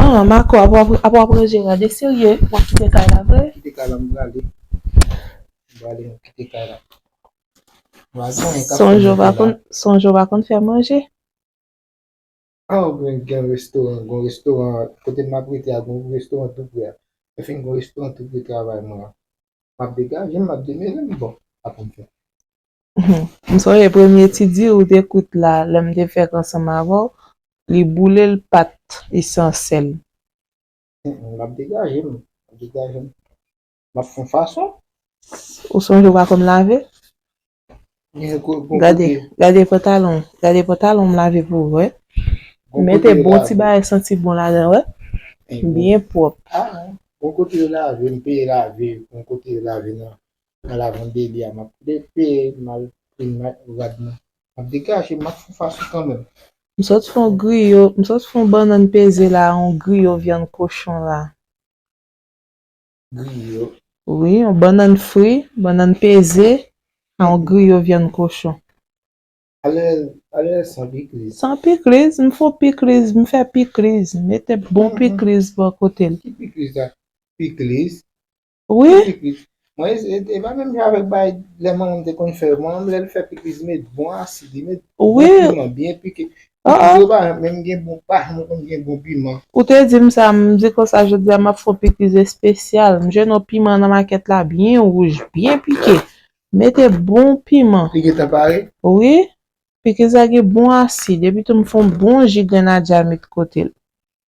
Aah Marco ap ap wap ranje rad e serye wap kite kay la vre. Kite kay la m prale m prale m kite kay la. Sonje w pa konn sonje w pa konn fè manje. Ah ou menm ki gen restoran gon restoran kote m ap rete a gon restoran tou pre a mwen fin gon restoran tou pre travay mwen an m ap degaje m m ap demele m bon sa pou m fè. M sonje premye ti di ou te kout la lè m te fèk ansanm avè w, li boule l pa t esansèl. M ap degaje m, m ap degaje m. M ap fè yon fason. Ou sonje ou pa konn lave? Gade, gade pantalon w, gade pantalon w m lave pou ou wè. M mete bon ti bagay santi bon ladan l wè, byen pwòp. Gon kote yo lave, m peye lave, gon kote yo lave nan Nan lavant deli a map trepe mal prim nan rad mwen ap degaje map fon fason kanmenm. M sot fon griyo m sot fon bannann peze la yon griyo vyann kochon la. Griyo. Wi yon bannann fri bannann peze a yon griyo vyann kochon. Alèz alèz san pikliz. San pikliz m fon pikliz m fè pikliz mete bon pikliz bò kotel. Ki pikliz la pikliz Wi. Fè pikliz. Mwen e pa menm jan avèk bay lè manmanm te konn fè. Manmanm lèl fè pikliz li met bon asid, li met bon piman byen pike. Pikliz yo pa janm menm gen bon pa janm konn gen bon piman. Ou te dim sa m di konsa jodi a map fon pikliz espesyal. M jwenn yon piman nan makèt la byen wouj, byen pike. Mete bon piman. Li gentan pare? Wi. Pikliz la gen bon asid epitou m fon bon ji grenadya met kotel.